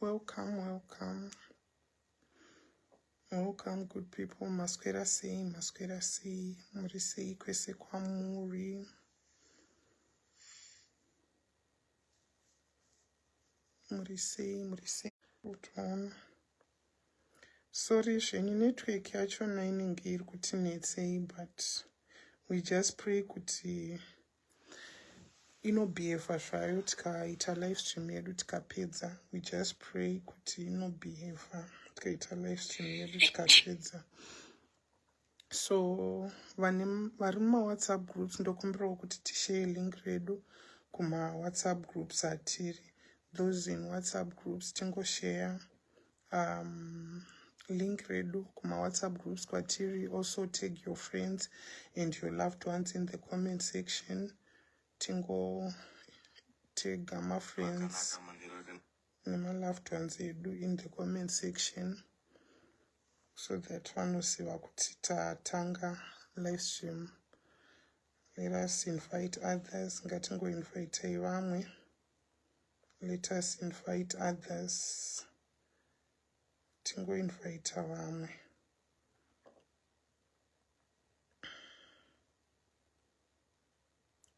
welcome welcome welcome good people maswera sei maswera sei muri sei kwese kwamuri muri sei muri sei Sorry zvenyu network yachona inenge iri kuti netsei but we just pray kuti inobhihevha zvayo tikaita live stream yedu tikapedza we just pray kuti inobhihevha tikaita live stream yedu tikapedza so vane vari mumawhatsapp groups ndokumbirawo kuti tishare link redu kumawhatsapp groups atiri those in whatsapp groups tingoshare um, link redu kumawhatsapp groups kwatiri also tag your friends and your loved ones in the comment section tingo tega mafriends nemalove tons edu in the comment section so that vanoziva kuti tatanga live stream let us invite others ngatingoinvitei vamwe let us invite others tingoinvita vamwe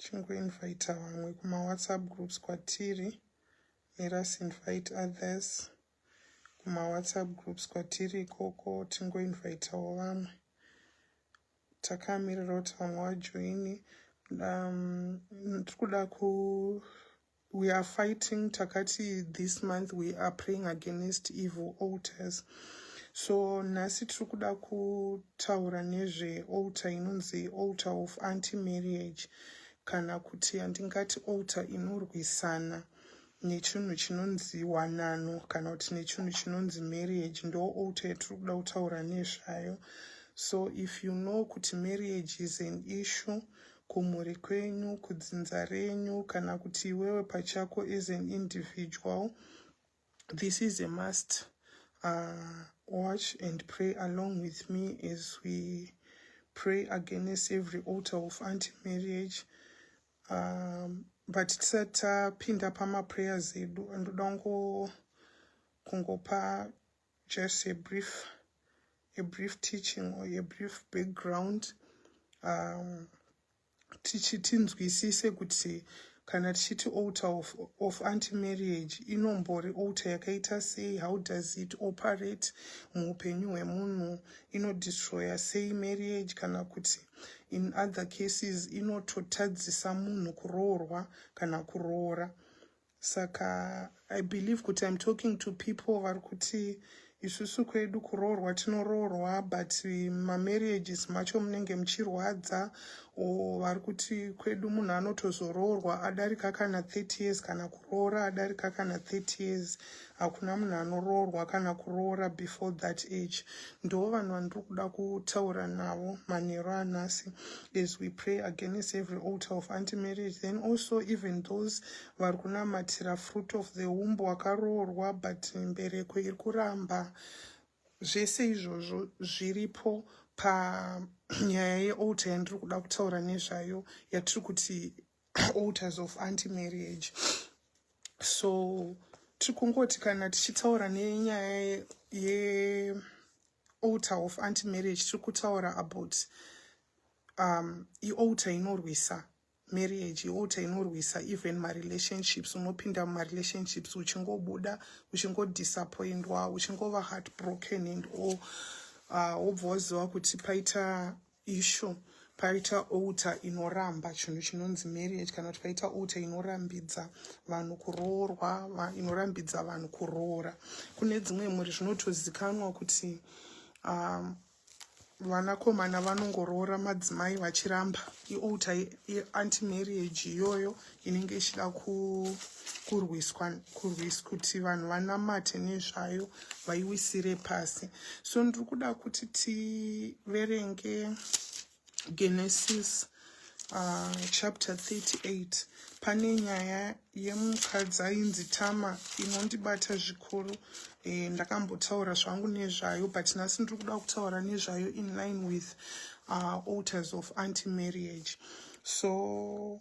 chingoinvita vamwe kumawhatsapp groups kwatiri let us invite others kumawhatsapp groups kwatiri ikoko tingoinvitawo vamwe takamirira kuti vamwe vajoini um, tiri kuda ku We are fighting takati this month we are praying against evil altars so nhasi tiri kuda kutaura nezvealtar inonzi altar of anti marriage kana kuti handingati altar inorwisana nechinhu chinonzi wanano kana kuti nechinhu chinonzi marriage ndo altar yatiri kuda kutaura nezvayo so if you know kuti marriage is an issue kumhuri kwenyu, kudzinza renyu kana kuti iwewe pachako as an individual. This is a must. Uh, watch and pray along with me as we pray against every altar of anti-marriage. Um, but tisati tapinda pamaprayers edu, ndoda kungopa just a brief a brief teaching or a brief background um, tichi tinzwisise kuti kana tichiti alter of, of anti marriage inombori alter yakaita sei how does it operate muupenyu hwemunhu inodestroya sei marriage kana kuti in other cases inototadzisa munhu kuroorwa kana kuroora saka i believe kuti im talking to people vari kuti isusu kwedu kuroorwa tinoroorwa but mamarriages macho munenge muchirwadza o vari kuti kwedu munhu anotozoroorwa adarika kana 30 years kana kuroora adarika kana 30 years hakuna munhu anoroorwa kana kuroora before that age ndoo vanhu vandiri kuda kutaura navo manheru anhasi as we pray against every alter of anti marriage then also even those vari kunamatira fruit of the womb wakaroorwa but mbereko iri kuramba zvese izvozvo zviripo panyaya yealter yandiri kuda kutaura nezvayo yatiri kuti altars of anti marriage so tiri kungoti kana tichitaura nenyaya ye altar of anti marriage tiri kutaura about um, ialtar inorwisa marriage ialtar inorwisa even marelationships unopinda mumarelationships uchingobuda uchingodisappointwa uchingova heartbroken and all uh, wobva uh, waziva kuti paita Ishu paita outa inoramba chinhu chinonzi marriage kana kuti paita outa inorambidza vanhu kuroorwa va, inorambidza vanhu kuroora kune dzimwe mhuri zvinotozikanwa kuti um, vanakomana vanongoroora madzimai vachiramba iouta ianti marriage iyoyo inenge ichida kurwiswa kurwisa kuti vanhu vanamate nezvayo vaiwisire pasi so ndiri kuda kuti tiverenge genesis uh, chapter 38 pane nyaya yemukadzi ainzi tama inondibata zvikuru e, ndakambotaura zvangu nezvayo but nhasi ndiri kuda kutaura nezvayo in line with uh, alters of anti marriage so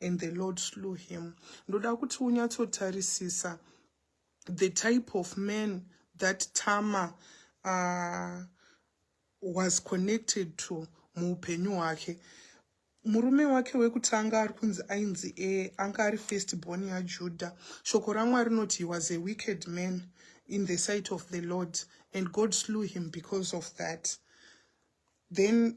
and the lord slew him ndoda kuti unyatsotarisisa the type of man that tama uh, was connected to muupenyu hwake murume wake wekutanga ari kunzi ainzi e anga ari first born yajuda shoko ramwari rinoti he was a wicked man in the sight of the lord and god slew him because of that then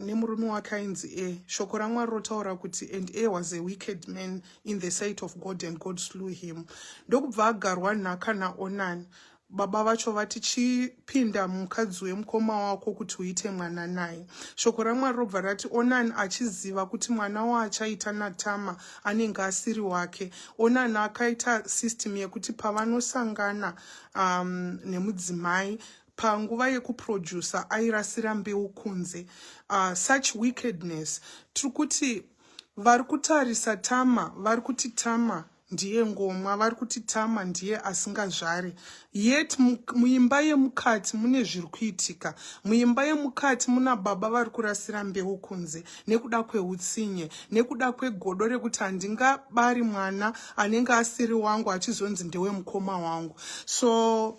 nemurume wake ainzi e shoko ramwari rotaura kuti and a was a wicked man in the sight of god and god slew him ndokubva agarwa nhaka naonani baba vacho vati chipinda mukadzi wemukoma wako kuti uite mwana naye shoko ramwari robva rati onani achiziva kuti mwana waachaita natama anenge asiri wake onani akaita system yekuti pavanosangana um, nemudzimai panguva yekuproducer airasira mbeu kunze uh, such wickedness tiri kuti vari kutarisa tama vari kuti tama ndiye ngomwa vari kuti tama ndiye asingazvare yet muimba yemukati mune zviri kuitika muimba yemukati muna baba vari kurasira mbeu kunze nekuda kweutsinye nekuda kwegodo rekuti handingabari mwana anenge asiri wangu achizonzi ndewemukoma wangu so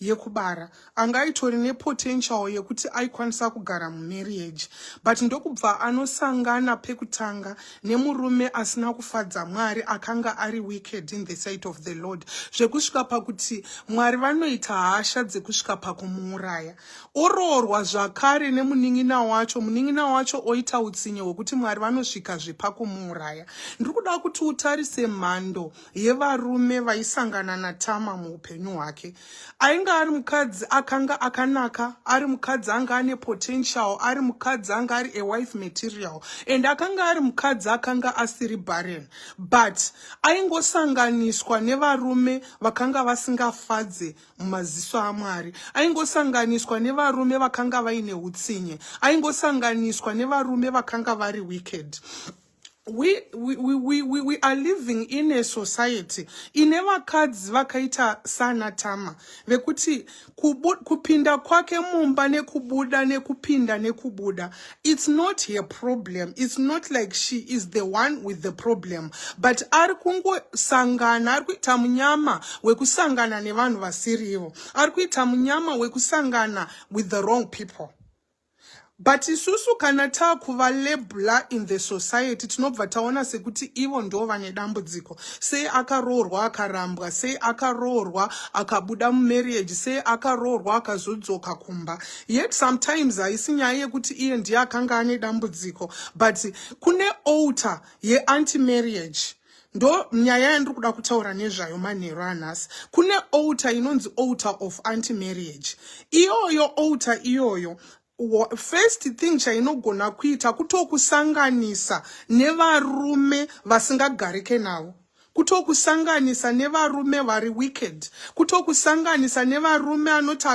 yekubara anga aitori nepotential yekuti aikwanisa kugara mumarriage but ndokubva anosangana pekutanga nemurume asina kufadza mwari akanga ari wicked in the sight of the lord zvekusvika pakuti mwari vanoita hasha dzekusvika pakumuuraya oroorwa zvakare nemunin'ina wacho munin'ina wacho oita utsinye hwekuti mwari vanosvika zvepakumuuraya ndiri kuda kuti utarise mhando yevarume vaisangana natama muupenyu hwake ainge ari mukadzi akanga akanaka ari mukadzi anga ane potential ari mukadzi anga ari awife material and akanga ari mukadzi akanga asiri barren but aingosanganiswa nevarume vakanga vasingafadze mumaziso amwari aingosanganiswa nevarume vakanga vaine utsinye aingosanganiswa nevarume vakanga vari wicked we, we, we, we, we are living in a society ine vakadzi vakaita sana tama vekuti kubu, kupinda kwake mumba nekubuda nekupinda nekubuda it's not her problem it's not like she is the one with the problem but ari kungosangana ari kuita munyama wekusangana nevanhu vasirivo ari kuita munyama wekusangana with the wrong people But isusu kana takuva labla in the society tinobva taona sekuti ivo ndo vane dambudziko. Sei akaroorwa akarambwa, sei akaroorwa akabuda mumarriage, sei akaroorwa akazodzoka kumba. Yet sometimes haisi nyaya yekuti iye ndiye akanga ane dambudziko but kune alter yeanti marriage ndo nyaya yandiri kuda kutaura nezvayo manheru anhasi kune outa inonzi outa of anti marriage iyoyo outa iyoyo first thing chainogona kuita kutokusanganisa nevarume vasingagarike navo kutokusanganisa nevarume vari wicked kutokusanganisa nevarume anoti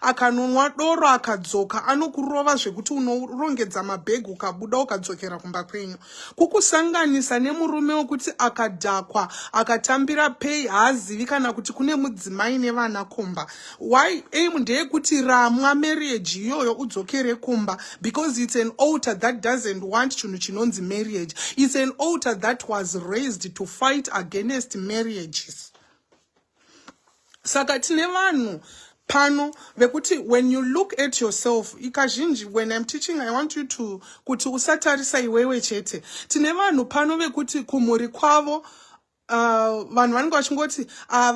akanonwa doro akadzoka anokurova zvekuti unorongedza mabhegi ukabuda ukadzokera kumba kwenyu kukusanganisa nemurume wekuti akadhakwa akatambira pay haazivi kana kuti kune mudzimai nevana kumba why aim ndeyekuti ramwa marriage iyoyo udzokere kumba because it's an alter that doesn't want chinhu chinonzi marriage it's an alter that was raised to fight against marriages saka tine vanhu pano vekuti when you look at yourself ikazhinji when im teaching i want you to kuti usatarisa iwewe chete tine vanhu pano vekuti kumhuri kwavo uh, vanhu vanenge vachingoti ah,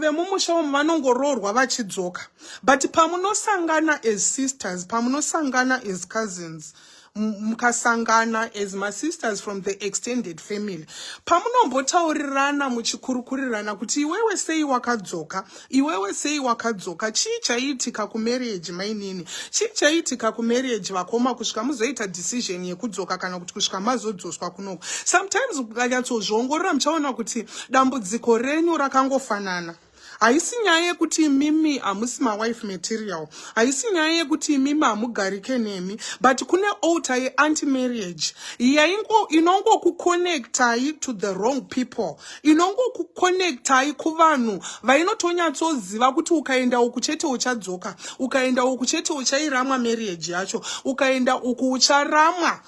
vemumusha umu vanongoroorwa vachidzoka but pamunosangana as sisters pamunosangana as cousins mukasangana as masisters from the extended family pamunombotaurirana muchikurukurirana kuti iwewe sei wakadzoka iwewe sei wakadzoka chii chaiitika kumarriage mainini chii chaiitika kumarriage vakoma kusvika muzoita decision yekudzoka kana kuti kusvika mazodzoswa kunoko sometimes mukanyatsozviongorora muchaona kuti dambudziko renyu rakangofanana haisi nyaya yekuti imimi hamusi mawife material haisi nyaya yekuti imimi hamugarike nemi but kune alter yeanti marriage yaingo inongokuconnectai to the wrong people inongokuconnectai kuvanhu vainotonyatsoziva kuti ukaenda uku chete uchadzoka ukaenda uku chete uchairamwa marriage yacho ukaenda uku ucharamwa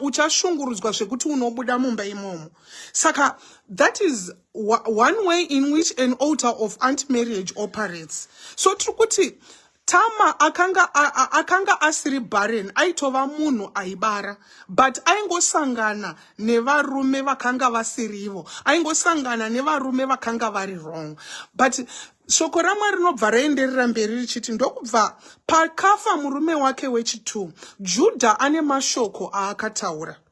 uchashungurudzwa ucha zvekuti unobuda mumba imomo saka that is one way in which an altar of anti marriage operates so tiri kuti tama akanga akanga asiri barren aitova munhu aibara but aingosangana nevarume vakanga vasirivo aingosangana nevarume vakanga vari wrong but shoko ramwari rinobva raenderera mberi richiti ndokubva pakafa murume wake wechitu judha ane mashoko aakataura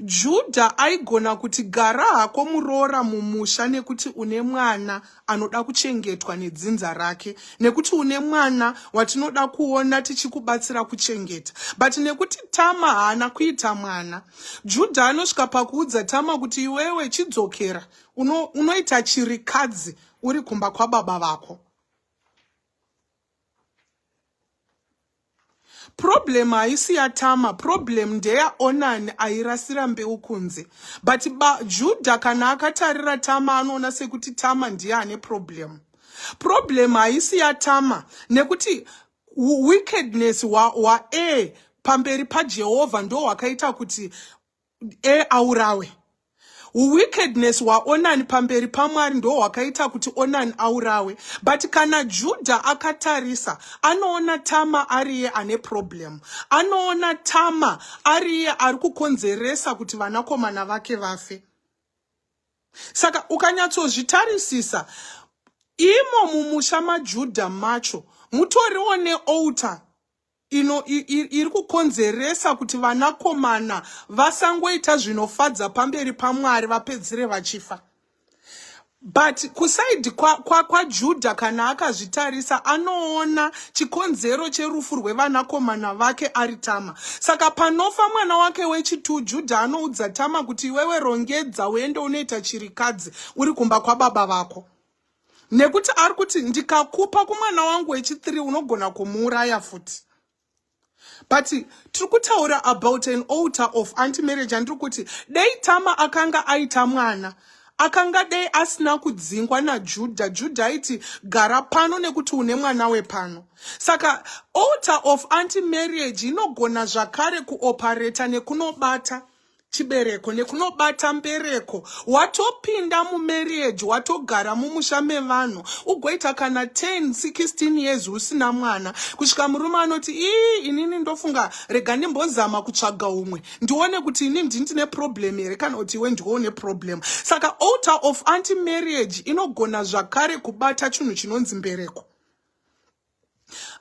Judha aigona kuti gara hako muroora mumusha nekuti une mwana anoda kuchengetwa nedzinza rake nekuti une mwana watinoda kuona tichikubatsira kuchengeta but nekuti Tama haana kuita mwana Judha anosvika pakuudza Tama kuti iwewe chidzokera uno, unoita chirikadzi uri kumba kwababa vako problem haisi yatama problem ndeya onan airasira mbeu kunze but juda kana akatarira tama anoona sekuti tama ndiye ane problem problem haisi yatama nekuti wickedness hwaa pamberi pajehovha ndo hwakaita kuti e aurawe wickedness waonani pamberi pamwari ndo hwakaita kuti onani aurawe but kana judha akatarisa anoona tama ariye ane problem anoona tama ariye ari kukonzeresa kuti vanakomana vake vafe saka ukanyatsozvitarisisa imo mumusha majudha macho mutoriwo neouter ino iri kukonzeresa kuti vanakomana vasangoita zvinofadza pamberi pamwari vapedzere vachifa but kusaidi kwajudha kwa, kwa kana akazvitarisa anoona chikonzero cherufu rwevanakomana vake ari tama saka panofa mwana wake wechitu judha anoudza tama kuti iwewe rongedza uende unoita chirikadzi uri kumba kwababa vako nekuti ari kuti ndikakupa kumwana wangu wechithree unogona kumuuraya futi but tiri kutaura about an alter of anti marriage andiri kuti dei tama akanga aita mwana akanga dei asina kudzingwa najudha judha aiti gara pano nekuti une mwana wepano saka alter of anti marriage inogona zvakare kuopareta nekunobata chibereko nekunobata mbereko watopinda mumarriage watogara mumusha mevanhu ugoita kana 10 16 years usina mwana kusvika murume anoti ii inini ndofunga rega ndimbozama kutsvaga umwe ndione kuti ini ndini ndine problem here kana kuti iwe ndiwo une problem saka alter of anti marriage inogona zvakare kubata chinhu chinonzi mbereko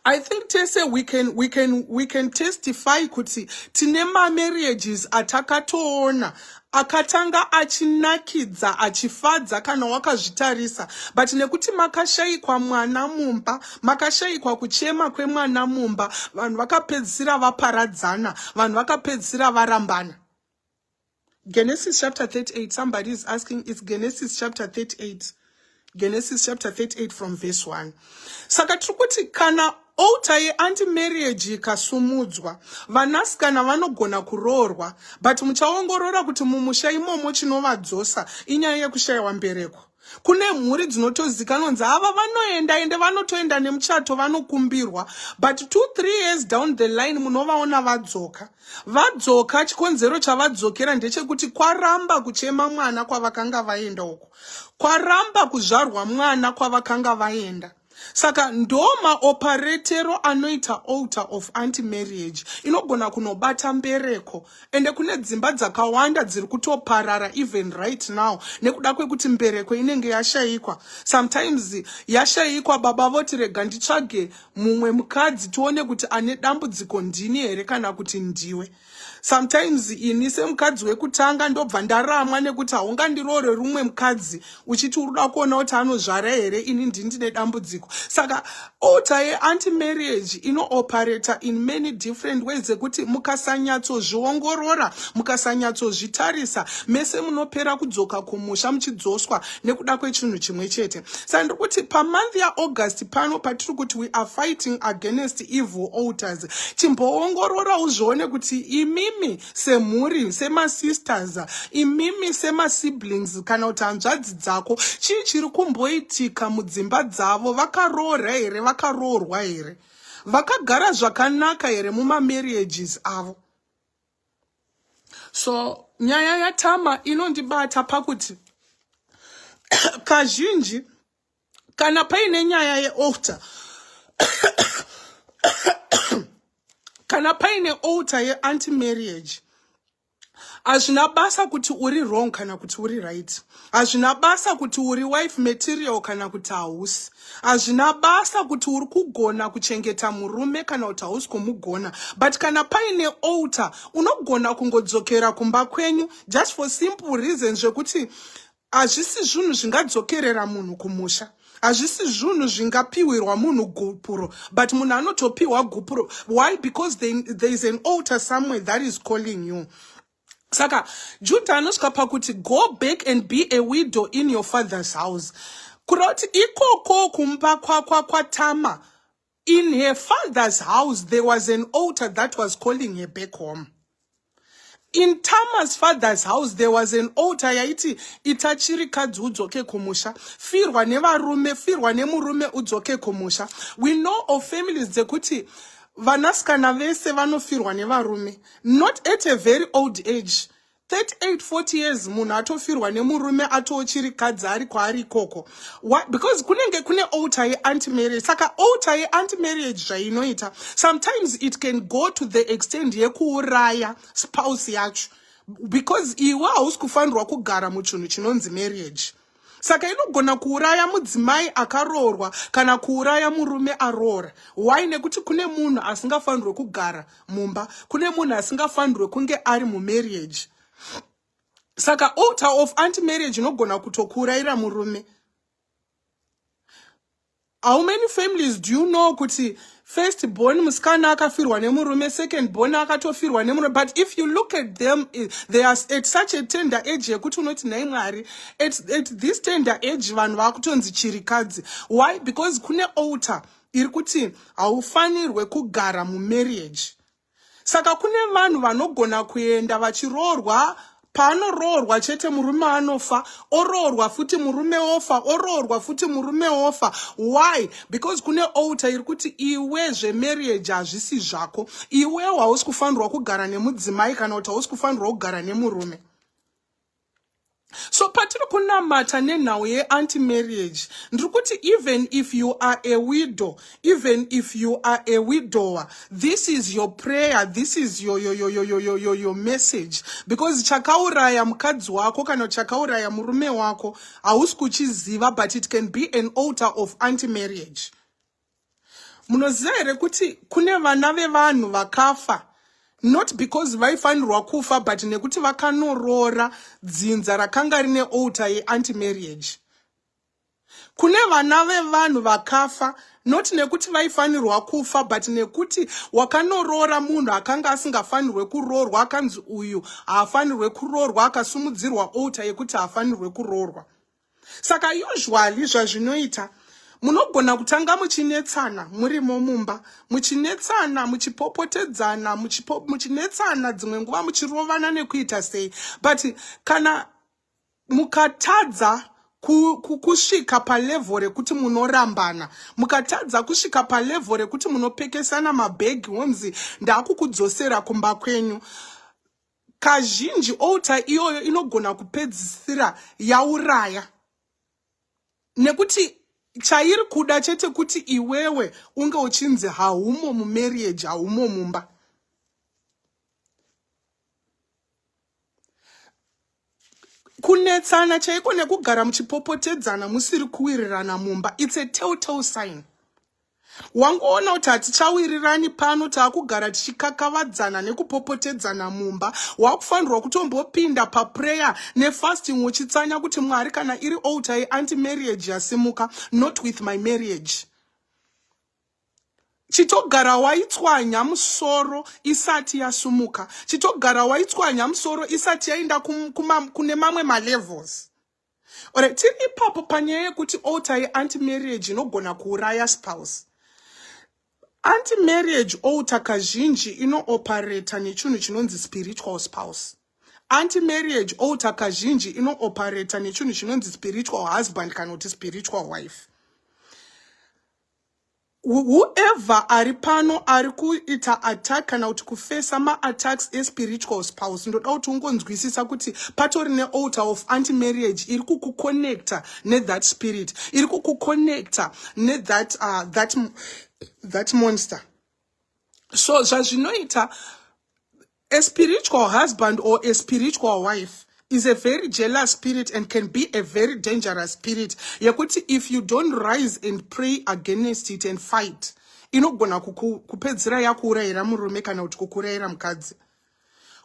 I think tese we can, we can, we can testify kuti tine mamarriages atakatoona akatanga achinakidza achifadza kana wakazvitarisa but nekuti makashayikwa mwana mumba makashayikwa kuchema kwemwana mumba vanhu vakapedzisira vaparadzana vanhu vakapedzisira varambana Genesis chapter 38. Somebody is asking, it's Genesis chapter 38. Genesis chapter 38 from verse 1. Saka tiri kuti kana altar yeanti marriage ikasumudzwa vanasikana vanogona kuroorwa but muchaongorora kuti mumusha imomo chinovadzosa inyaya yekushayiwa mbereko kune mhuri dzinotozikanwa kunzi ava vanoenda ende vanotoenda nemuchato vanokumbirwa but two three years down the line munovaona vadzoka vadzoka chikonzero chavadzokera ndechekuti kwaramba kuchema mwana kwavakanga vaenda uko kwaramba kuzvarwa mwana kwavakanga vaenda saka ndo maoparetero anoita alter of anti marriage inogona kunobata mbereko ende kune dzimba dzakawanda dziri kutoparara even right now nekuda kwekuti mbereko inenge yashayikwa sometimes yashayikwa baba voti rega nditsvage mumwe mukadzi tione kuti ane dambudziko ndini here kana kuti ndiwe sometimes ini semukadzi wekutanga ndobva ndaramwa nekuti haungandiroore rumwe mukadzi uchiti uri kuda kuona kuti anozvara here ini ndini ndine dambudziko saka ota yeanti marriage inooperata in many different ways ekuti mukasanyatsozviongorora mukasanyatsozvitarisa mese munopera kudzoka kumusha muchidzoswa nekuda kwechinhu chimwe chete saka ndiri kuti pamonth yaaugust pano patiri kuti we are fighting against evil alters chimboongorora uzvione kuti imimi semhuri semasisters imimi semasiblings kana kuti hanzvadzi dzako chii chiri kumboitika mudzimba dzavo vakaroora here vakaroorwa here vakagara zvakanaka here mumamarriages avo so nyaya yatama inondibata pakuti kazhinji kana paine nyaya yealter kana paine alter yeanti marriage hazvina basa kuti uri wrong kana kuti uri right hazvina basa kuti uri wife material kana kuti hausi hazvina basa kuti uri kugona kuchengeta murume kana kuti hausi kumugona but kana paine alter unogona kungodzokera kumba kwenyu just for simple reason zvekuti hazvisi zvinhu zvingadzokerera munhu kumusha hazvisi zvinhu zvingapiwirwa munhu gupuro but munhu anotopiwa gupuro why because there is an alter somewhere that is calling you saka juda anosvika pakuti go back and be a widow in your father's house kureva kuti ikoko kumba kwakwa kwatama in her father's house there was an altar that was calling her back home in tama's father's house there was an altar yaiti ita chirikadzi udzoke kumusha firwa nevarume firwa nemurume udzoke kumusha we know of families dzekuti vanasikana vese vanofirwa nevarume not at a very old age 38 40 years munhu atofirwa nemurume atoochiri kadzi ari kwaari ikoko because kunenge kune alter yeanti marriage saka alter yeanti marriage zvainoita sometimes it can go to the extend yekuuraya spouse yacho because iwe hausi kufanirwa kugara muchinhu chinonzi marriage saka inogona kuuraya mudzimai akaroorwa kana kuuraya murume aroora why nekuti kune munhu asingafanirwe kugara mumba kune munhu asingafanirwe kunge ari mumarriage saka alter of anti marriage inogona kutokuurayira murume How many families do you know kuti first born musikana akafirwa nemurume second born akatofirwa nemurume but if you look at them eh, they are at such a tender age yekuti unoti nhai mwari at, at this tender age vanhu vakutonzi chirikadzi why because kune alter iri kuti haufanirwe kugara mumarriage Saka kune vanhu vanogona kuenda vachiroorwa paanoroorwa chete murume anofa oroorwa futi murume ofa oroorwa futi murume ofa why because kune alter iri kuti iwe zvemarriage hazvisi zvako iwewo hausi kufanirwa kugara nemudzimai kana kuti hausi kufanirwa kugara nemurume so patiri kunamata nenhau yeanti marriage ndiri kuti even if you are a widow even if you are a widower this is your prayer this is your, your, your, your, your, your, your message because chakauraya mukadzi wako kana chakauraya murume wako hausi kuchiziva but it can be an alter of anti marriage munoziva here kuti kune vana vevanhu vakafa not because vaifanirwa kufa but nekuti vakanoroora dzinza rakanga rine alter yeanti marriage kune vana vevanhu vakafa not nekuti vaifanirwa kufa but nekuti wakanoroora munhu akanga asingafanirwe kuroorwa akanzi uyu haafanirwe kuroorwa akasumudzirwa alter yekuti haafanirwe kuroorwa saka usually zvazvinoita munogona kutanga muchinetsana murimo mumba muchinetsana muchipopotedzana muchinetsana dzimwe nguva muchirovana nekuita sei but kana mukatadza kusvika palevho rekuti munorambana mukatadza kusvika palevho rekuti munopekesana mabhegi wonzi ndaakukudzosera kumba kwenyu Kazhinji altar iyoyo inogona kupedzisira yauraya nekuti chairi kuda chete kuti iwewe unge uchinzi haumo mumarriage haumo mumba kunetsana chaiko nekugara muchipopotedzana musiri kuwirirana mumba its a telltale sign wangoona kuti hatichawirirani pano taakugara tichikakavadzana nekupopotedzana mumba wakufanirwa kutombopinda paprayer nefasting uchitsanya kuti mwari kana iri alter yeanti marriage yasimuka not with my marriage chitogara waitswanya musoro isati yasumuka chitogara waitswanya musoro isati yaenda kune mamwe malevels Alright, tiri ipapo panyaya yekuti alter yeanti marriage inogona kuuraya spouse. Anti marriage alter kazhinji inooperata nechinhu chinonzi spiritual spouse. Anti marriage alter kazhinji inooperata nechinhu chinonzi spiritual husband kana kuti spiritual wife. whoever ari pano ari kuita attack kana kuti kufesa maattacks espiritual spouse ndoda kuti ungonzwisisa kuti patori nealtar of anti marriage iri kukuconnecta nethat spirit iri kukuconnecta nethat uh, that, that monster so zvazvinoita A spiritual husband or a spiritual wife is a very jealous spirit and can be a very dangerous spirit yekuti if you don't rise and pray against it and fight inogona kupedzira yakuurayira murume kana kuti kukurayira mukadzi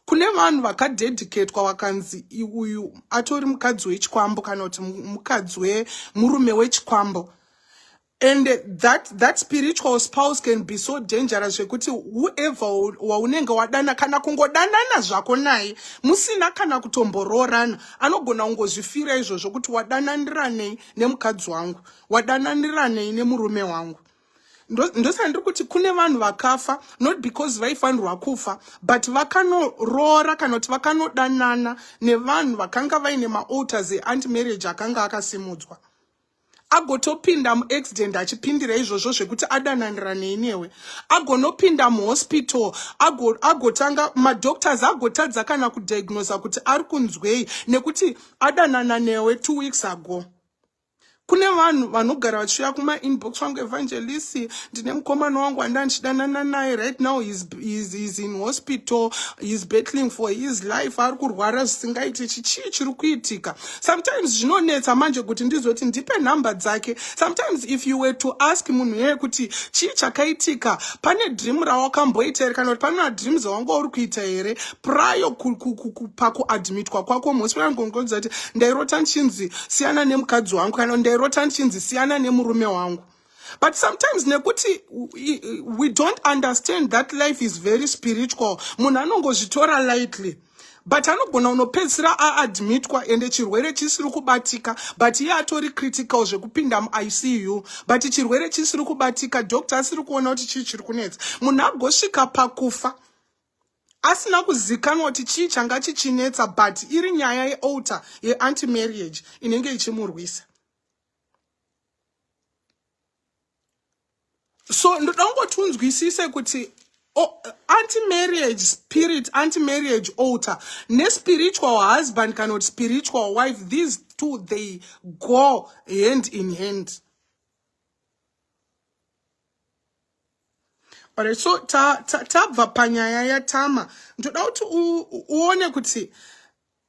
kune vanhu vakadedicatwa vakanzi uyu atori mukadzi wechikwambo kana kuti mukadzi wemurume wechikwambo and that that spiritual spouse can be so dangerous zvekuti whoever waunenge wadana kana kungodanana zvako naye musina kana kutomboroorana anogona kungozvifira izvozvo kuti wadananiranei nemukadzi wangu wadananiranei nemurume wangu ndosaka ndiri kuti kune vanhu vakafa not because vaifanirwa kufa but vakanoroora kana kuti vakanodanana nevanhu vakanga vaine maalters eanti marriage akanga akasimudzwa agotopinda muaccident achipindira izvozvo zvekuti adananira nei newe agonopinda muhospital agotanga ago madoctors agotadza kana kudiagnosa kuti ari kunzwei nekuti adanana newe two weeks ago kune vanhu vanogara vachiuya kumainbox vangu evangelist ndine mukomana wangu anda ndichidanana naye right now he's, he's, he's in hospital he's battling for his life ari kurwara zvisingaiti chichii chiri kuitika sometimes zvinonetsa manje kuti ndizoti ndipe nhamba dzake sometimes if you were to ask munhu yeye kuti chii chakaitika pane dream rawakamboita here kana kuti pane madream zawanga uri kuita here prayo pakuadmitwa kwako mhosirangongozati ndairota ndichinzi siyana nemukadzi wangu kana ndairota ndichinzi siyana nemurume wangu but sometimes nekuti we don't understand that life is very spiritual munhu anongozvitora lightly but anogona unopedzisira aadmitwa ende chirwere chisiri kubatika but iye atori critical zvekupinda muicu but chirwere chisiri kubatika doctor asiri kuona kuti chii chiri kunetsa munhu agosvika pakufa asina kuzikanwa kuti chii changa chichinetsa but iri nyaya yealter yeanti marriage inenge ichimurwisa so ndoda kungoti unzwisise kuti oh, anti-marriage spirit anti-marriage alter nespiritual husband kana kuti spiritual wife these two they go hand in hand alright so tabva ta, ta, panyaya yatama ndoda kuti uone kuti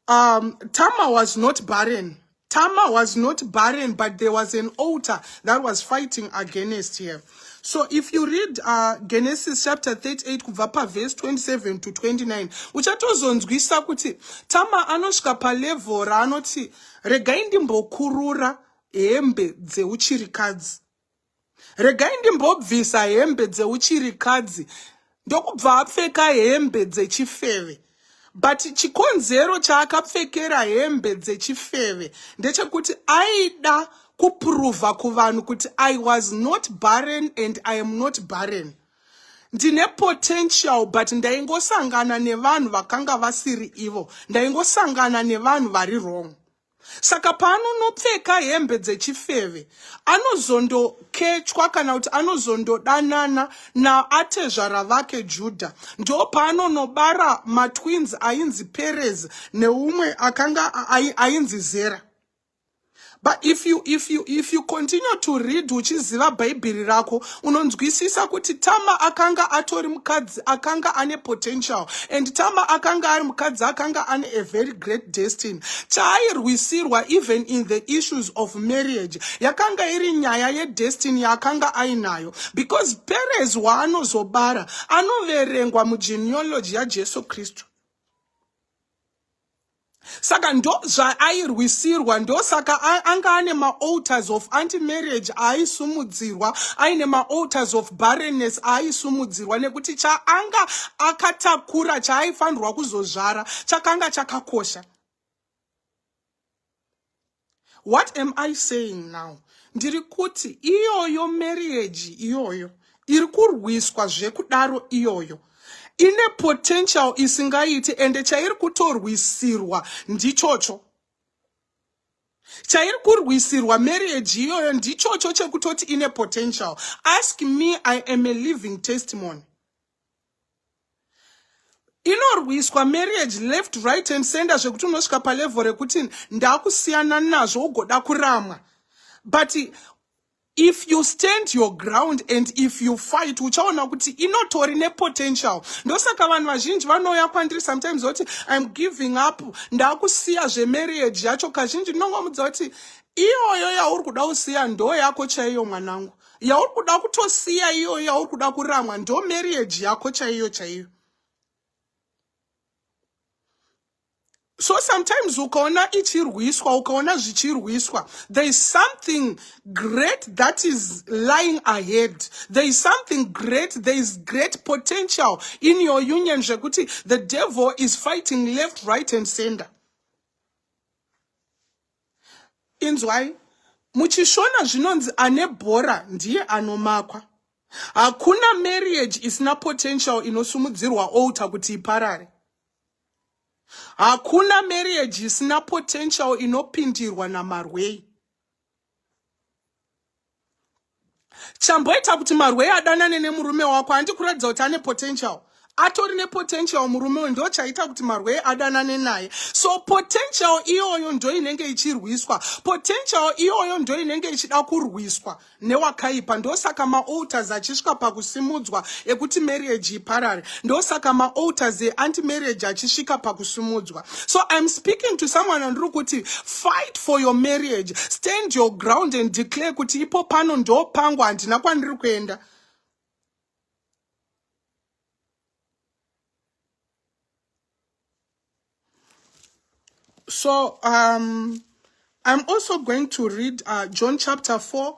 Um, Tama was not barren. Tama was not barren, but there was an altar that was fighting against her. So if you read uh, Genesis chapter 38 kubva pa verse 27 to 29, uchatozonzwisa kuti Tama anosvika pa level raanoti regai ndimbokurura hembe dzeuchirikadzi. regai ndimbobvisa hembe dzeuchirikadzi ndokubva apfeka hembe dzechifeve but chikonzero chaakapfekera hembe dzechifeve ndechekuti aida kupruvha kuvanhu kuti i was not barren and i am not barren ndine potential but ndaingosangana nevanhu vakanga vasiri ivo ndaingosangana nevanhu vari wrong saka paanonopfeka hembe dzechifeve anozondokechwa kana kuti anozondodanana naatezvara vake judha ndo paanonobara matwins ainzi perez neumwe akanga ainzi zera but if you, if you, if you continue to read uchiziva bhaibheri rako unonzwisisa kuti tama akanga atori mukadzi akanga ane potential and tama akanga ari mukadzi akanga ane a very great destiny chaairwisirwa even in the issues of marriage yakanga iri nyaya yedestiny yaakanga ainayo because perez waanozobara anoverengwa mugeneology yajesu kristu saka ndo zvaairwisirwa ndosaka anga ane maalters of anti marriage aaisumudzirwa aine maalters of barrenness aaisumudzirwa nekuti chaanga akatakura chaaifanirwa kuzozvara chakanga chakakosha What am I saying now? Ndiri kuti iyoyo marriage iyoyo iri kurwiswa zvekudaro iyoyo ine potential isingaiti ende chairi kutorwisirwa ndichocho chairi kurwisirwa marriage iyoyo ndichocho chekutoti ine potential ask me i am a living testimony inorwiswa marriage left right and center zvekuti unosvika palevel rekuti ndakusiyana nazvo ugoda kuramwa but if you stand your ground and if you fight uchaona kuti inotori nepotential ndosaka vanhu vazhinji vanouya kwandiri sometimes voti iam giving up ndakusiya zvemarriage yacho kazhinji ndinongomudza kuti iyoyo yauri kuda kusiya ndo yako chaiyo mwanangu yauri kuda kutosiya iyoyo yauri kuda kuramwa ndo marriage yako chaiyo chaiyo so sometimes ukaona ichirwiswa ukaona zvichirwiswa there is something great that is lying ahead there is something great there is great potential in your union zvekuti the devil is fighting left right and center Inzwai, muchishona zvinonzi ane bhora ndiye anomakwa. Hakuna marriage isina potential inosumudzirwa altar kuti iparare. Hakuna marriage isina potential inopindirwa namarwei. chamboita kuti marwei adanane nemurume wako handi kuratidza kuti ane potential atori nepotential murume uyu ndo chaita kuti marwei adanane naye so potential iyoyo ndo inenge ichirwiswa potential iyoyo ndo inenge ichida kurwiswa newakaipa ndosaka maalters achisvika pakusimudzwa ekuti marriage iparare ndosaka maalters eanti marriage achisvika pakusimudzwa so i'm speaking to someone andiri kuti fight for your marriage stand your ground and declare kuti ipo pano ndo pangu handina kwandiri kuenda so um, i'm also going to read uh, john chapter 4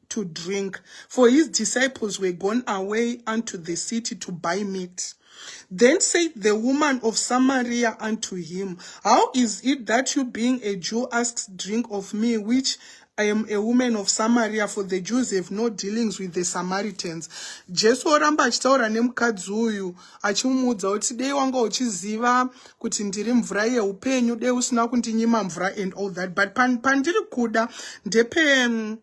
to drink, for his disciples were gone away unto the city to buy meat. Then said the woman of Samaria unto him, How is it that you, being a Jew, asks drink of me, which I am a woman of Samaria, for the Jews have no dealings with the Samaritans. Jesu oramba achitaura nemukadzi uyu achimuudza kuti dei wanga uchiziva kuti ndiri mvura yeupenyu, dei usina kundinyima mvura and all that. But pandiri kuda ndepe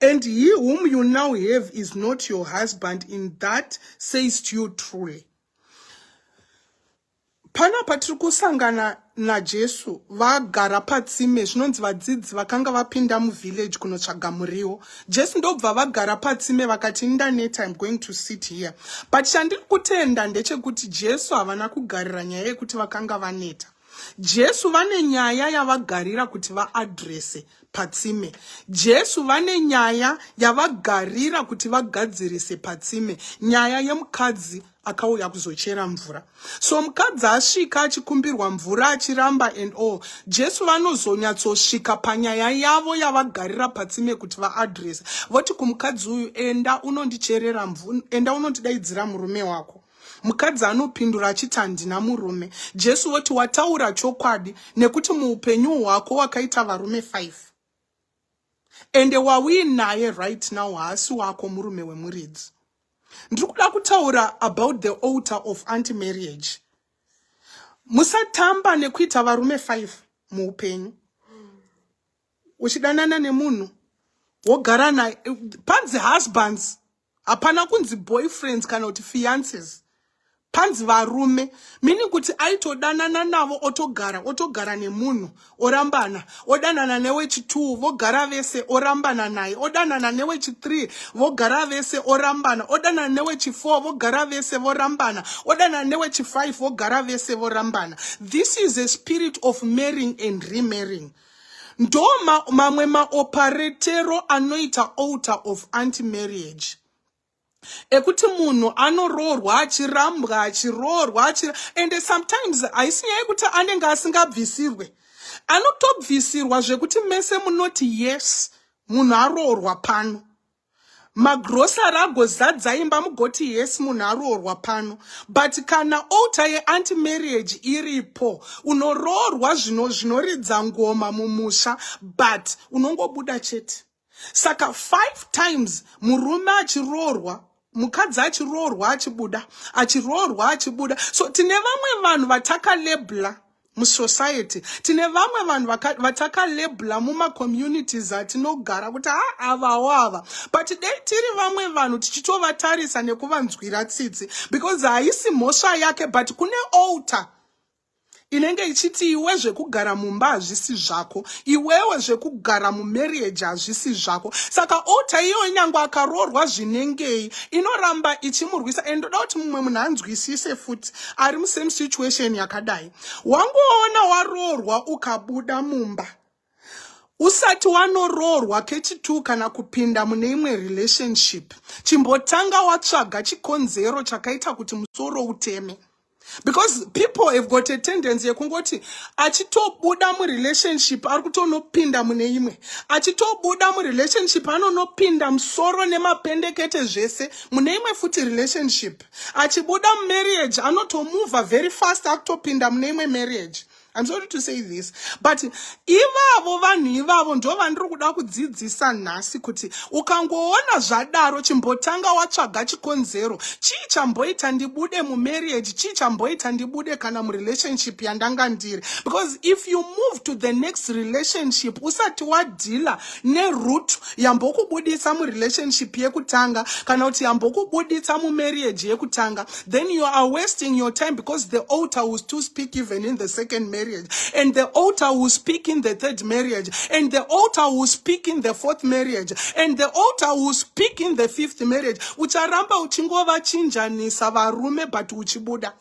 And he whom you now have is not your husband in that says to you truly. Pana patiri kusangana naJesu vagara patsime zvinonzi vadzidzi vakanga vapinda muvillage kunotsvaga muriwo. Jesu ndobva vagara patsime vakati ndaneta I'm going to sit here. But chandiri kutenda ndechekuti Jesu havana kugarira nyaya yekuti vakanga vaneta. Jesu vane nyaya yavagarira kuti vaadrese patsime. Jesu vane nyaya yavagarira kuti vagadzirise patsime. Nyaya yemukadzi akauya kuzochera mvura. So mukadzi asvika achikumbirwa mvura achiramba and all. Jesu vanozonyatsosvika panyaya yavo yavagarira patsime kuti vaadrese. Voti kumukadzi uyu enda unondicherera mvura, enda unondidaidzira murume wako. Mukadzi anopindura achiti handina murume. Jesu voti wataura chokwadi nekuti muupenyu hwako wakaita varume five ende wauinaye right now haasi wako murume wemuridzi. Ndiri kuda kutaura about the altar of anti marriage. Musatamba nekuita varume five muupenyu. Uchidanana nemunhu wogara naye panzi husbands hapana kunzi boyfriends kana kuti fiances panzi varume meaning kuti aitodanana navo otogara otogara nemunhu orambana odanana newechitwo vogara vese orambana naye odanana newechithree vogara vese orambana odanana newechifour vogara vese vorambana odanana newechifive vogara vese vorambana this is a spirit of marrying and remarrying ndo ma, mamwe maoparetero anoita altar of anti marriage ekuti munhu anoroorwa achirambwa achiroorwa achir... and sometimes haisi nyaya yekuti anenge asingabvisirwe anotobvisirwa zvekuti mese munoti yes munhu aroorwa pano magrosari agozadza imba mugoti yes munhu aroorwa pano but kana outa yeanti marriage iripo unoroorwa zvino zvinoridza ngoma mumusha but unongobuda chete saka five times murume achiroorwa mukadzi achiroorwa achibuda achiroorwa achibuda so tine vamwe vanhu vatakalebla musociety tine vamwe vanhu vatakalebla mumacommunities atinogara kuti ha ah, avawo ava but dei tiri vamwe vanhu tichitovatarisa nekuvanzwira tsitsi because haisi mhosva yake but kune alter inenge ichiti iwe zvekugara mumba hazvisi zvako iwewe zvekugara mumarriage hazvisi zvako saka ota iyoyo nyange akaroorwa zvinengei inoramba ichimurwisa and ndoda kuti mumwe munhu anzwisise futi ari musame situation yakadai wangoona waroorwa ukabuda mumba usati wanoroorwa kechitu kana kupinda mune imwe relationship chimbotanga watsvaga chikonzero chakaita kuti musoro uteme because people have got a tendency yekungoti achitobuda murelationship ari kutonopinda mune imwe achitobuda murelationship anonopinda musoro nemapendekete zvese mune imwe futi relationship achibuda mumarriage anotomuvha very fast akutopinda mune imwe marriage I'm sorry to say this but ivavo vanhu ivavo ndo vandiri kuda kudzidzisa nhasi kuti ukangoona zvadaro chimbotanga watsvaga chikonzero chii chamboita ndibude mumarriage chii chamboita ndibude kana murelationship yandanga ndiri because if you move to the next relationship usati wadhila neroot yambokubudisa murelationship yekutanga kana kuti yambokubudisa mumarriage yekutanga then you are wasting your time because the altar will still speak even in the second marriage and the altar will speak in the third marriage and the altar will speak in the fourth marriage and the altar will speak in the fifth marriage ucharamba uchingovachinjanisa varume but uchibuda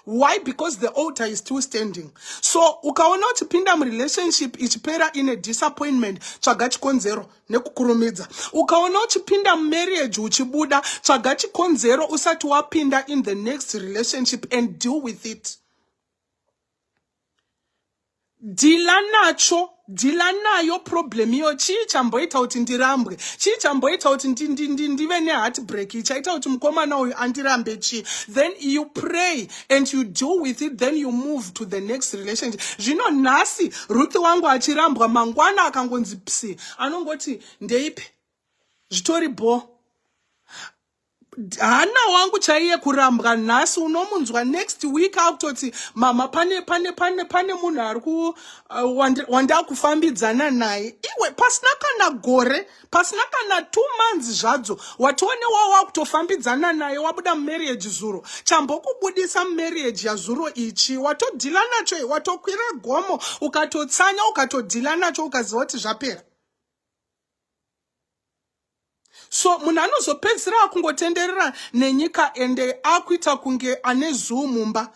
why because the altar is still standing so ukaona uchipinda murelationship ichipera ine disappointment tsvaga chikonzero nekukurumidza ukaona uchipinda mumarriage uchibuda tsvaga chikonzero usati wapinda in the next relationship and deal with it dhila nacho dhila nayo problem iyo chii chamboita kuti ndirambwe chii chamboita kuti ndive neheartbreak ichaita kuti mukomana uyu andirambe chii then you pray and you deal with it then you move to the next relationship zvino nhasi ruth wangu achirambwa mangwana akangonzi psi anongoti ndeipi zvitori bho hana wangu chaiye kurambwa nhasi unomunzwa next week akutoti mama pane pane pane pane munhu ari ku uh, wandakufambidzana naye iwe pasina kana gore pasina kana two months zvadzo watione wa wakutofambidzana naye wabuda mumarriage zuro chambokubudisa mumarriage yazuro ichi watodhila nacho i watokwira gomo ukatotsanya ukatodhila nacho ukaziva kuti zvapera so munhu anozopedzisira akungotenderera nenyika ende akuita kunge ane zuu mumba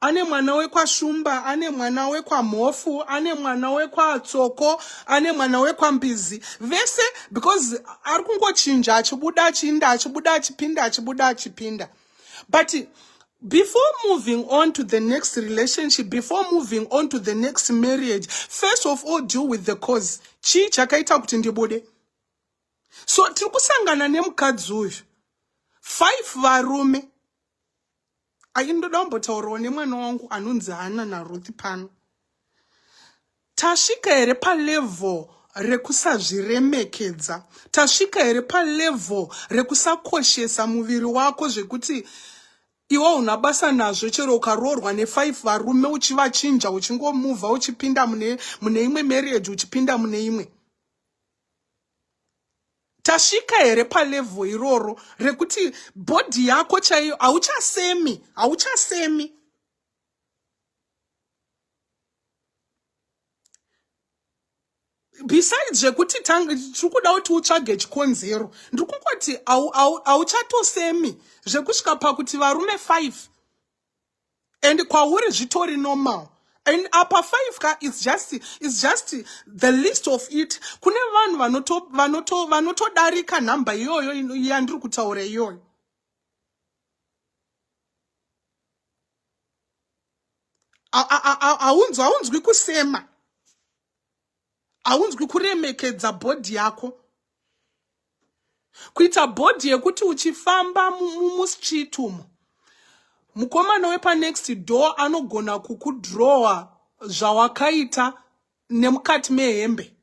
ane mwana wekwashumba ane mwana wekwamhofu ane mwana wekwatsoko ane mwana wekwambizi vese because ari kungochinja achibuda achiinda achibuda achipinda achibuda achipinda but before moving on to the next relationship before moving on to the next marriage first of all deal with the cause chii chakaita kuti ndibude so tiri kusangana nemukadzi uyu five varume aindoda kumbotaurawo nemwana wangu anonzi hana naruth pano Tasvika here palevel rekusazviremekedza? Tasvika here palevel rekusakoshesa muviri wako zvekuti iwo una basa nazvo chero ukaroorwa nefive varume uchivachinja uchingomuvha uchipinda mune mune imwe marriage uchipinda mune imwe tasvika here palevel iroro rekuti bhodhi yako chaiyo hauchasemi hauchasemi besides zvekuti tiri kuda kuti utsvage chikonzero ndiri kungoti hauchatosemi zvekusvika pakuti varume five and kwauri zvitori normal and apa five ka is just, is just the list of it kune vanhu vanotodarika nhamba iyoyo yandiri kutaura iyoyo haunzwi haunzwi kusema haunzwi kuremekedza bhodhi yako kuita bhodhi yekuti uchifamba mustreet umo mukomana wepanext door anogona kukudrowa zvawakaita nemukati mehembe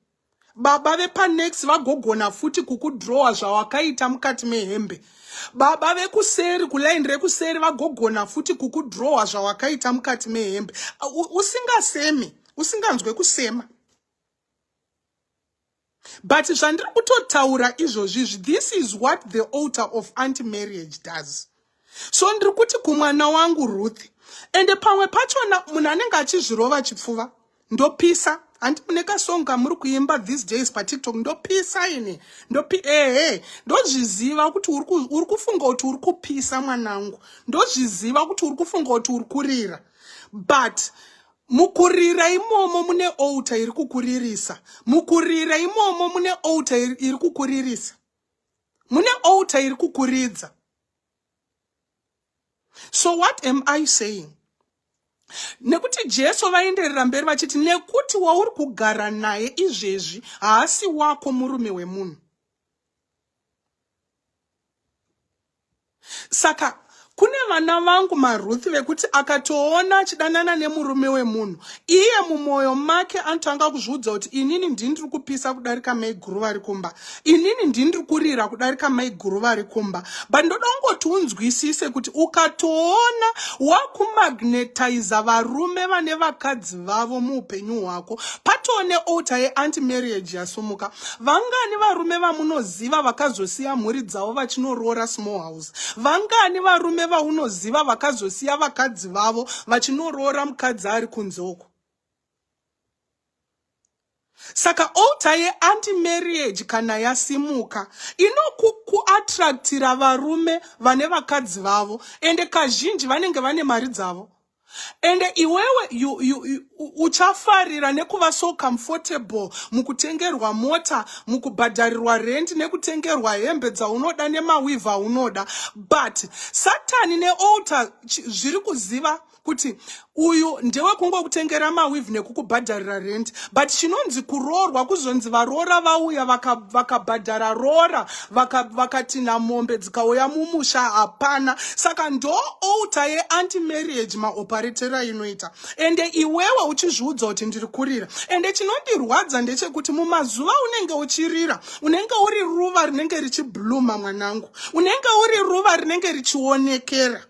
baba vepanex vagogona futi kukudrowa zvawakaita mukati mehembe baba vekuseri kulaini rekuseri vagogona futi kukudrowa zvawakaita mukati mehembe usingasemi usinganzwe kusema But zvandiri kutotaura izvozvi izvi, this is what the altar of anti-marriage does. So ndiri kuti kumwana wangu Ruth, ende pamwe pachona munhu anenge achizvirova chipfuva, ndopisa. Hanti mune kasong kamuri kuimba these days patiktok, ndopisa ini, ndopi ehe, ndozviziva kuti uri kufunga kuti uri kupisa mwanangu, ndozviziva kuti uri kufunga kuti uri kurira, but Mukurira imomo mune outa iri kukuririsa. Mukurira imomo mune outa iri kukuririsa. Mune outa iri kukuridza. So what am I saying? Nekuti Jesu vaenderera mberi vachiti nekuti wauri kugara naye izvezvi haasi wako murume wemunhu. saka kune vana vangu maruth vekuti akatoona achidanana nemurume wemunhu iye mumwoyo make anotanga kuzviudza kuti inini ndini ndiri kupisa kudarika maiguru vari kumba inini ndini ndiri kurira kudarika maiguru vari kumba but ndoda kungoti unzwisise kuti ukatoona wakumagnetiza varume vane vakadzi vavo muupenyu hwako patone outa yeanti marriage yasumuka vangani varume vamunozi vaunoziva vakazosiya mhuri dzavo vachinoroora small house vangani varume vaunoziva vakazosiya vakadzi vavo vachinoroora mukadzi ari kunze uko saka alter yeanti marriage kana yasimuka inokuattractira varume vane vakadzi vavo ende kazhinji vanenge vane mari dzavo ende iwewe you, you, you, uchafarira nekuva so comfortable mukutengerwa mota mukubhadharirwa rent nekutengerwa hembe dzaunoda nemawivha aunoda but satani nealter zviri kuziva kuti uyu ndewe kungokutengera mawivhi nekukubhadharira rent but chinonzi kuroorwa kuzonzi varoora vauya vakabhadhara vaka roora vakatinha mombe dzikauya mumusha hapana saka ndo outa yeanti marriage maoparetera inoita ende iwewe uchizviudza kuti ndiri kurira ende chinondirwadza ndechekuti mumazuva unenge uchirira unenge uri ruva rinenge richibluma mwanangu unenge uri ruva rinenge richionekera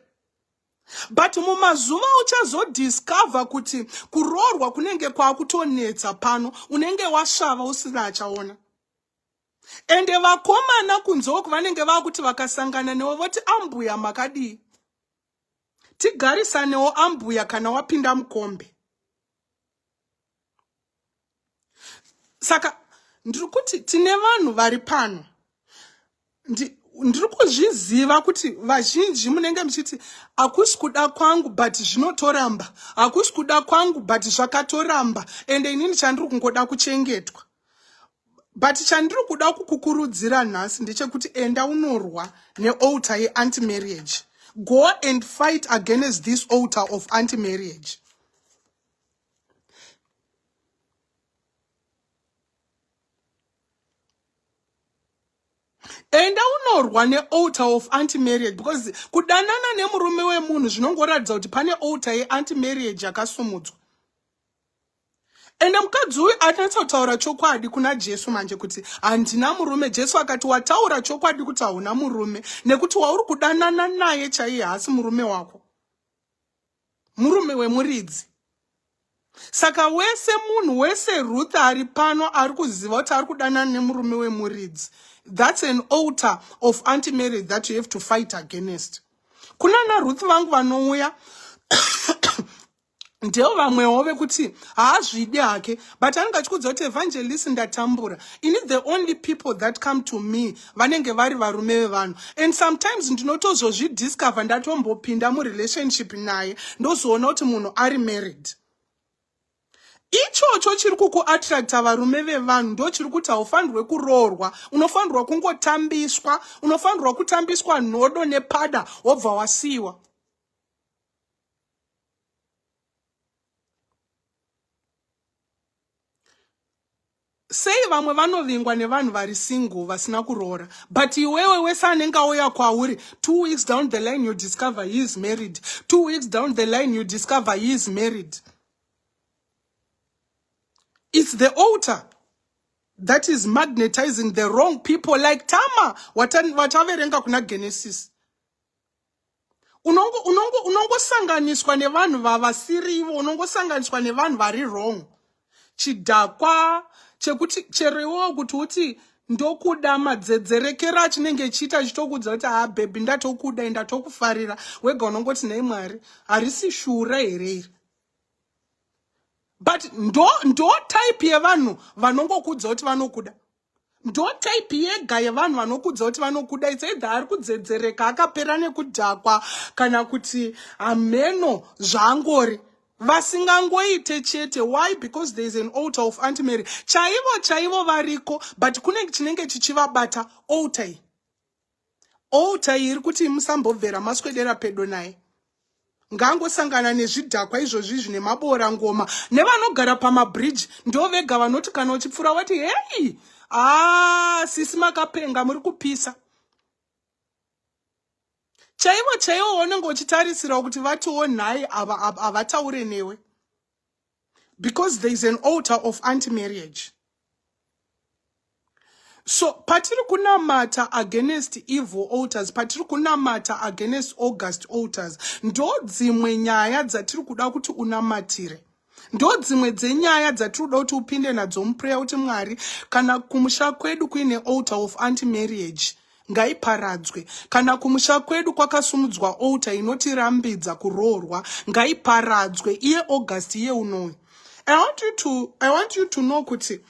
but mumazuva uchazodiscover kuti kuroorwa kunenge kwakutonetsa pano unenge wasvava usina achaona ende vakomana kunzoko vanenge vakuti vakasangana newe voti ambuya makadii tigarisanewo ambuya kana wapinda mukombe saka ndiri kuti tine vanhu vari pano ndiri kuzviziva kuti vazhinji munenge muchiti hakusi kuda kwangu but zvinotoramba hakusi kuda kwangu but zvakatoramba ende inini chandiri kungoda kuchengetwa but chandiri kuda kukukurudzira nhasi ndechekuti enda unorwa nealter yeanti marriage go and fight against this alter of anti marriage enda unorwa nealtar of anti marriage because kudanana nemurume wemunhu zvinongoratidza kuti pane altar yeanti marriage yakasumudzwa ende mukadzi uyu anatsa kutaura chokwadi kuna jesu manje kuti handina murume jesu akati wataura chokwadi kuti hauna murume nekuti wauri kudanana naye chaiye haasi murume wako murume wemuridzi saka wese munhu wese ruth ari pano ari kuziva kuti ari kudanana nemurume wemuridzi that's an alter of anti marriage that you have to fight against kunana ruth vangu vanouya ndeo vamwewo vekuti haazvidi hake but anenge achikudza kuti evangelist ndatambura ini the only people that come to me vanenge vari varume vevanhu and sometimes ndinotozozvidiscover ndatombopinda murelationship naye ndozoona kuti munhu ari married ichocho chiri kukuattracta varume vevanhu ndo chiri kuti haufanirwe kuroorwa unofanirwa kungotambiswa unofanirwa kutambiswa nhodo nepada wobva wasiyiwa Sei vamwe vanovingwa nevanhu vari single vasina kuroora but iwewe wese anenge auya kwauri two weeks down the line you discover he is married two weeks down the line you discover he is married it's the altar that is magnetizing the wrong people like tama wataverenga kuna genesis unongo unongo unongosanganiswa nevanhu vavasiri ivo unongosanganiswa nevanhu vari wrong chidhakwa chekuti chero iwewo kuti uti ndokuda madzedzerekera achinenge chiita chitokuudza kuti haa bhebhi ndatokuda e ndatokufarira wega unongoti nei mwari harisi shura here iri but ndo ndo type yevanhu vanongokuudza kuti vanokuda ndo type yega yevanhu vanokudza kuti vanokuda its either ari kudzedzereka akapera nekudhakwa kana kuti hameno zvaangori vasingangoite chete why because there is an alter of anti mary chaivo chaivo variko but kune chinenge chichivabata alter Altar iyi iri kuti musambobvera maswedera pedo naye. Ngangosangana nezvidhakwa izvozvi zvine maboora ngoma nevanogara pamabridge ndo vega vanoti kana uchipfura wati heyi aa ah, sisi makapenga muri kupisa chaivo chaivo waunenge uchitarisira kuti vatiwo nhai havataure newe because there is an altar of anti marriage so patiri kunamata against evil altars patiri kunamata against august altars ndo dzimwe nyaya dzatiri kuda kuti unamatire ndo dzimwe dzenyaya dzatiri kuda kuti upinde nadzo muprayer kuti mwari kana kumusha kwedu kuine altar of anti marriage ngaiparadzwe kana kumusha kwedu kwakasumudzwa outa inotirambidza kuroorwa ngaiparadzwe iye august iye unoyu i want you to, I want you to know kuti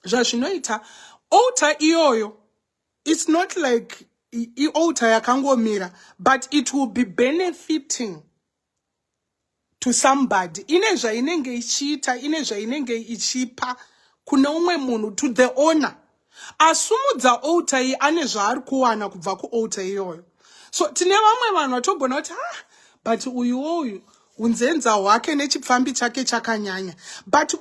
zvazvinoita outa iyoyo its not like iouta yakangomira but it will be benefiting to somebody ine zvainenge ichiita ine zvainenge ichipa kune umwe munhu to the owner asumudza outa iyi ane zvaari kuwana kubva kuouta iyoyo so tine vamwe vanhu vatogona kuti ha ah, but uyuwo uyu unzenza hwake nechipfambi chake chakanyanya but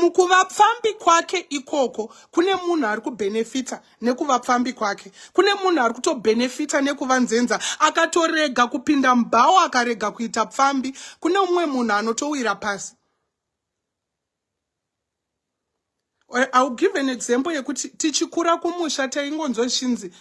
mukuvapfambi kwake ikoko kune munhu ari kubhenefita nekuva pfambi kwake kune munhu ari kutobhenefita nekuva nzenza akatorega kupinda mubhawo akarega kuita pfambi kune umwe munhu anotowira pasi eh, iwill give an example yekuti tichikura kumusha taingonzwa zvichinzi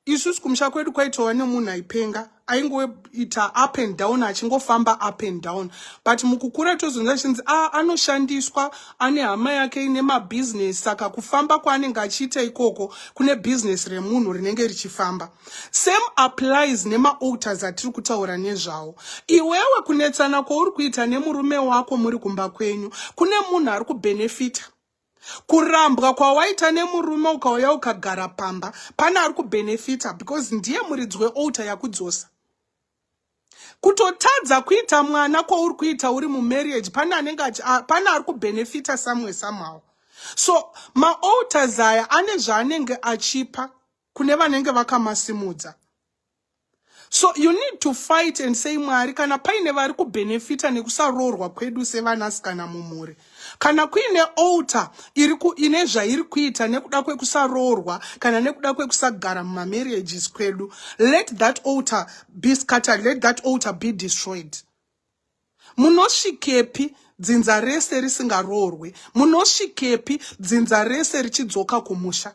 isusu kumusha kwedu kwaitowa nemunhu aipenga aingoita up and down achingofamba up and down but mukukura tozonza chinzi a ah, anoshandiswa ane hama yake ine mabhizinesi saka kufamba kwaanenge achiita ikoko kune bhizinesi remunhu rinenge richifamba same applies nemaalters atiri kutaura nezvawo iwewe kunetsana kwauri kuita nemurume wako muri kumba kwenyu kune munhu ari kubhenefita kurambwa kwawaita nemurume ukauya ukagara pamba pane ari kubenefita because ndiye muridzi weouta yakudzosa kutotadza kuita mwana kwauri kuita uri mumarriage pane anenge pane ari kubenefita samwe samhawo so maouters aya ane zvaanenge achipa kune vanenge vakamasimudza so you need to fight and say mwari kana paine vari kubhenefita nekusaroorwa kwedu sevanasikana mumhuri kana kuine alter iri ine zvairi kuita nekuda kwekusaroorwa kana nekuda kwekusagara mumamarriages kwedu let that alter be scattered let that alter be destroyed munosvikepi dzinza rese risingaroorwe munosvikepi dzinza rese richidzoka kumusha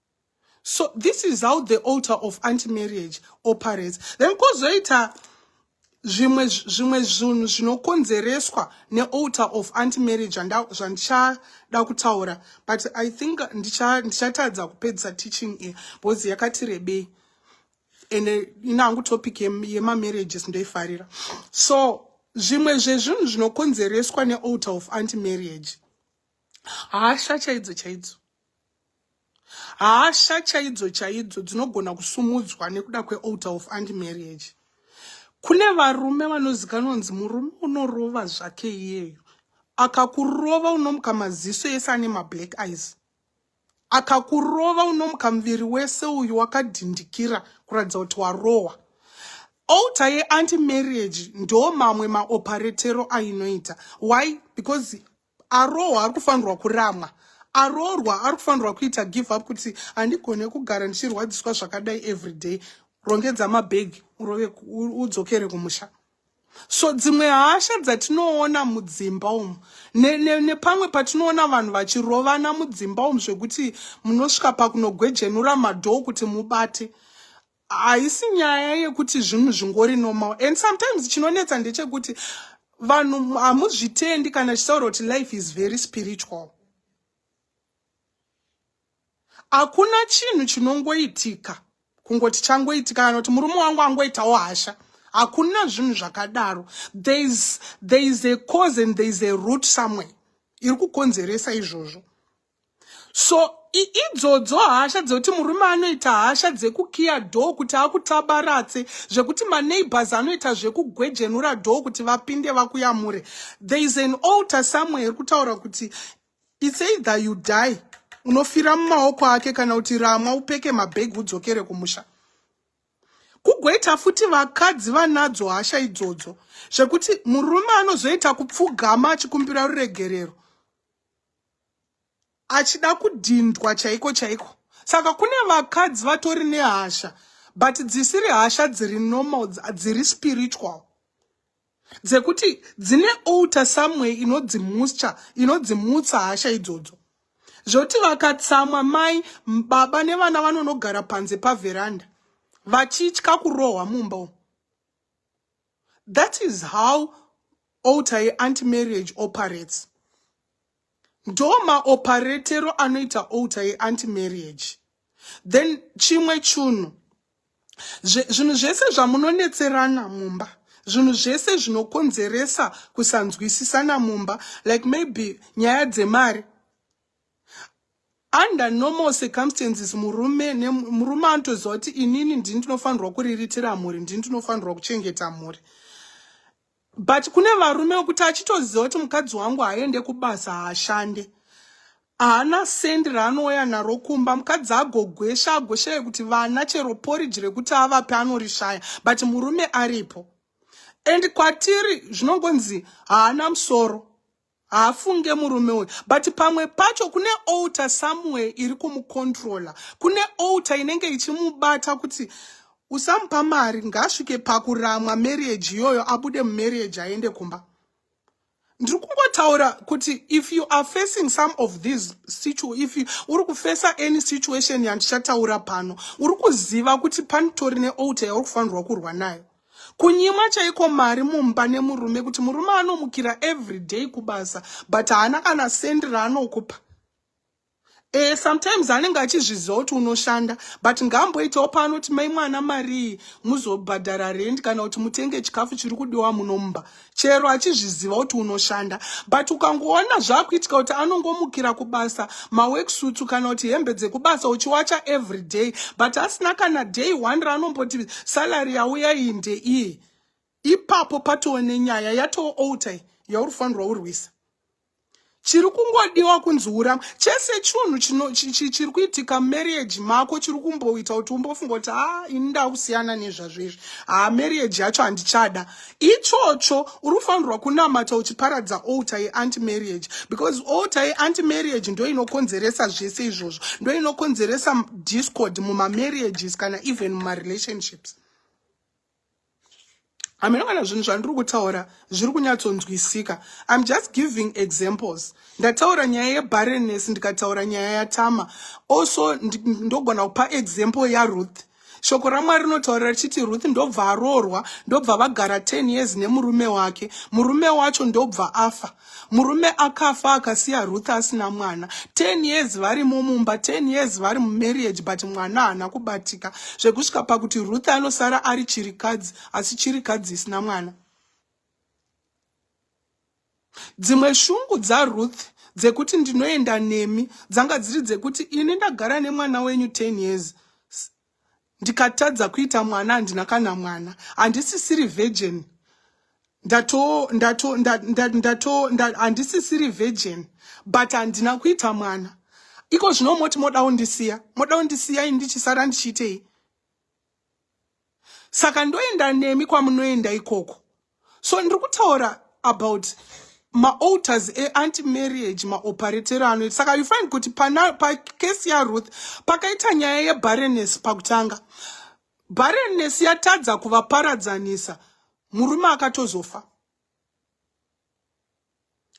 so this is how the altar of anti marriage operates then kozoita zvimwe zvimwe zvinhu zvinokonzereswa nealtar of anti marriage zvandichada kutaura but i think ndichatadza kupedzisa teaching iyi because yakati rebei and inangu topic yemamarriages ndoifarira so zvimwe zvezvinhu zvinokonzereswa nealtar of anti marriage hasha chaidzo chaidzo hasha chaidzo chaidzo dzinogona kusumudzwa nekuda kwealter of anti marriage kune varume vanozikanwa kunzi murume unorova zvake iyeyo akakurova unomuka maziso ese ane mablack eyes akakurova unomuka muviri wese uyu wakadhindikira kuratidza kuti warohwa outa yeanti marriage ndo mamwe maoparetero ainoita why because arohwa ari kufanirwa kuramwa aroorwa ari kufanirwa kuita give up kuti handigone kugara ndichirwadziswa zvakadai every day rongedza mabhegi urove udzokere kumusha so dzimwe hasha dzatinoona mudzimba umu nepamwe ne, ne patinoona vanhu vachirovana mudzimba umu zvekuti munosvika pakunogwejenura madhoo kuti mubate haisi nyaya yekuti zvinhu zvingori normal and sometimes chinonetsa ndechekuti vanhu hamuzvitendi kana chisaura kuti life is very spiritual hakuna chinhu chinongoitika kungoti changoitika kana kuti murume wangu angoitawo hasha hakuna zvinhu zvakadaro there is, there is a cause and there is a root somewhere iri kukonzeresa izvozvo so idzodzo hasha dzekuti murume anoita hasha dzekukiya dhoo kuti akutabaratse zvekuti maneighbors anoita zvekugwejenura dhoo kuti vapinde vakuyamure there is an alter somewhere iri kutaura kuti its either you die unofira mumaoko ake kana kuti ramwa upeke mabhegi udzokere kumusha kugoita futi vakadzi vanadzo hasha idzodzo zvekuti murume anozoita kupfugama achikumbira ruregerero achida kudhindwa chaiko chaiko saka kune vakadzi vatori nehasha but dzisiri hasha dziri normal dziri spiritual dzekuti dzine alter someway inodzimuscha inodzimutsa hasha idzodzo zvoti vakatsamwa mai baba nevana vanonogara panze paveranda vachitya kurohwa mumba umu That is how alter yeanti marriage operates. Ndo maoparetero anoita alter yeanti marriage. Then chimwe chunhu, zvinhu zvese zvamunonetserana mumba, zvinhu zvese zvinokonzeresa kusanzwisisana mumba, like maybe nyaya dzemari, under normal circumstances murume murume anotoziva kuti inini ndini ndinofanirwa kuriritira mhuri ndini ndinofanirwa kuchengeta mhuri but kune varume vekuti achitoziva kuti mukadzi wangu haaende kubasa haashande haana sendi raanouya naro kumba mukadzi agogwesha agoshaya kuti vana chero poriji rekuti avape anorishaya but murume aripo and kwatiri zvinongonzi haana musoro haafunge murume uyu but pamwe pacho kune alter somewhere iri kumucontrola kune alter inenge ichimubata kuti usamupa mari ngaasvike pakuramwa marriage iyoyo abude mumarriage aende kumba ndiri kungotaura kuti if you are facing some of these situ if uri kufesa any situation yandichataura pano uri kuziva kuti panitori nealter yauri kufanirwa kurwa nayo kunyima chaiko mari mumba nemurume kuti murume anomukira everyday kubasa but haana kana sendi raanokupa e, sometimes anenge achizviziva kuti unoshanda but ngaamboitawo paanoti mai mwana marii muzobhadhara rend kana kuti mutenge chikafu chiri kudiwa muno mumba chero achizviziva kuti unoshanda but ukangoona zvakuitika kuti anongomukira kubasa maweksutsu kana kuti hembe dzekubasa uchiwacha every day but asina kana day one raanomboti salary yauya iyi ndeiyi ipapo patoone nyaya yatoo outai yauri fanirwa urwisa chiri kungodiwa kunzi urama chese chunhu chiri kuitika mumarriage mako chiri kumboita kuti umbofunga kuti ha ini ndakusiyana nezvazvo izvi ha marriage yacho handichada ichocho uri kufanirwa kunamata uchiparadza alta yeanti marriage because alta yeanti marriage ndo inokonzeresa zvese izvozvo ndo inokonzeresa discord mumamarriages kana even mumarelationships hameno kana zvinhu zvandiri kutaura zviri kunyatsonzwisika im just giving examples ndataura nyaya yebarrenness ndikataura nyaya yatama also ndogona kupa example yaruth shoko ramwari rinotaura richiti ruth ndobva aroorwa ndobva vagara 10 years nemurume wake murume wacho ndobva afa Murume akafa akasiya Ruth asina mwana 10 years vari mumumba 10 years vari mumarriage but mwana haana kubatika zvekusvika pakuti Ruth anosara ari chirikadzi asi chirikadzi isina mwana. Dzimwe shungu dzaRuth dzekuti ndinoenda nemi dzanga dziri dzekuti ini ndagara nemwana wenyu 10 years ndikatadza kuita mwana handina kana mwana handisisiri virgin ndato ndato ndato handisisiri virgin but handina kuita mwana iko zvino moti moda kundisiya moda kundisiya ini ndichisara ndichiitei saka ndoenda nemi kwamunoenda ikoko so ndiri kutaura about maalters eanti marriage maoparetero anoita saka you find kuti pakesi yaruth pakaita nyaya yebareness pakutanga bareness yatadza kuvaparadzanisa murume akatozofa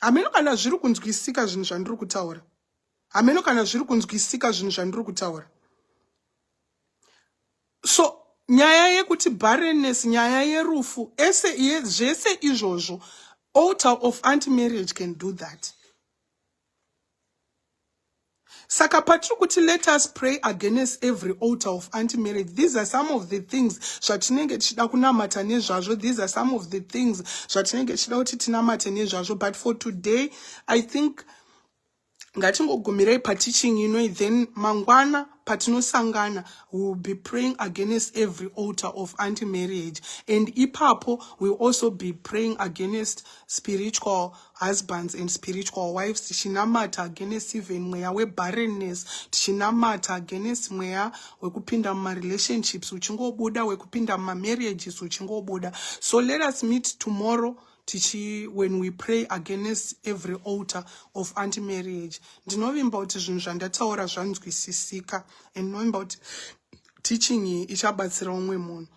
hameno kana zviri kunzwisika zvinhu zvandiri kutaura hameno kana zviri kunzwisika zvinhu zvandiri kutaura so nyaya yekuti barrenness nyaya yerufu ese zvese izvozvo altar of anti marriage can do that saka patiri kuti let us pray against every alter of anti marriage these are some of the things zvatinenge tichida kunamata nezvazvo these are some of the things zvatinenge tichida kuti tinamate nezvazvo but for today i think ngatingogumirei pateaching inoi then mangwana patinosangana we will be praying against every alter of anti marriage and ipapo we will also be praying against spiritual husbands and spiritual wives tichinamata against even mweya webarrenness tichinamata against mweya wekupinda mumarelationships uchingobuda wekupinda mumamarriages uchingobuda so let us meet tomorrow tichi when we pray against every alter of anti marriage ndinovimba kuti zvinhu zvandataura zvanzwisisika and ndinovimba kuti teaching iyi ichabatsira umwe munhu